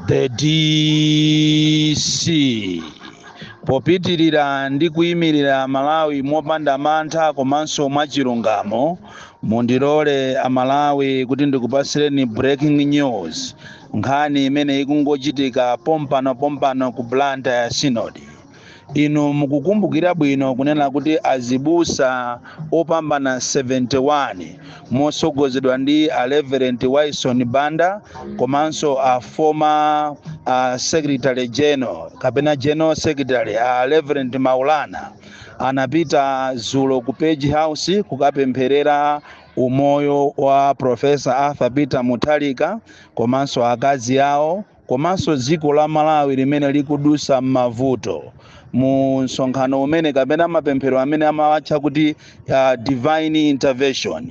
the dc popitirira ndi kuyimirira malawi mopanda mantha komanso mwachilungamo mundilole amalawi kuti ndikupatsireni breaking news nkhani imene ikungochitika pompano pompano ku blantyre synod inu mukukumbukira bwino kunena kuti azibusa opambana 71 motsogozedwa ndi a Reverend Wyson Banda komanso a former secretary general kapena general secretary a Reverend Maulana anapita zulo ku Page House kukapempherera umoyo wa Professor Arthur Peter Mutharika komanso akazi awo komanso dziko la Malawi limene likudusa m'mavuto mu msonkhano umene kapena mapemphero amene amawatcha kuti divine intervention.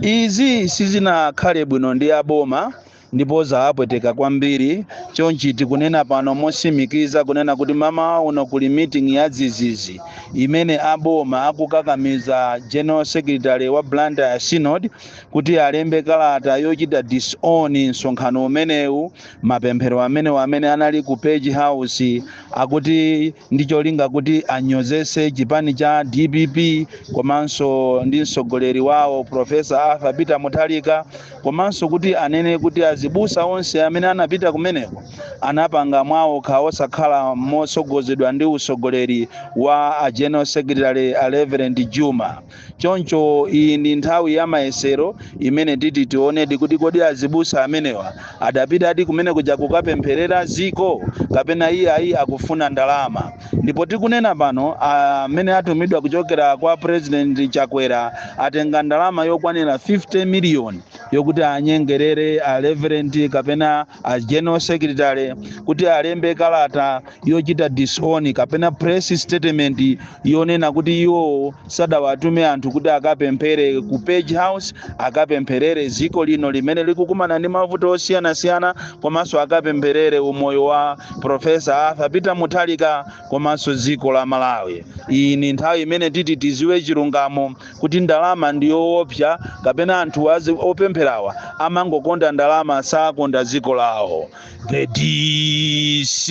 Izi sizinakhale bwino ndi aboma ndipo zawapweteka kwambiri chonchi tikunena pano mosimikiza kunena kuti mmawa uno kuli meeting ya dzizizi imene aboma akukakamiza general secretary wa Blantyre synod kuti alembe kalata yochita disown msonkhano umenewu mapemphero amenewa amene anali ku page house akuti ndi cholinga kuti anyozese chipani cha dpp komanso ndi mtsogoleri wawo profesa arthur peter mutharika komanso kuti anene kuti azibusa onse amene anapita kumeneko anapanga mwawokha osakhala motsogozedwa ndi utsogoleri wa a general secretary a reverend juma Choncho iyi ndi nthawi ya mayesero imene titi tionedi kuti kodi azibusa amenewa adapitadi kumenekuja kukapempherera dziko kapena iyayi akufuna ndalama. Ndipo tikunena pano amene atumidwa kuchokera kwa President Chakwera atenga ndalama yokwanira 50 million yokuti anyengerere a Reverend kapena a general secretary kuti alembe kalata yochita disown kapena press statement yonena kuti iwowo sadawatume anthu kuti akapemphere ku page house akapempherere dziko lino limene likukumana ndi mavuto osiyanasiyana komanso akapempherere umoyo wa profesa arthur peter mutharika komanso dziko la malawi iyi ni nthawi imene titi tiziwe chilungamo kuti ndalama ndi yoopsa kapena anthu azi opempherawa amangokonda ndalama sakonda dziko lawo the dc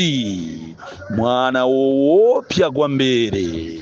mwana woopsa kwambiri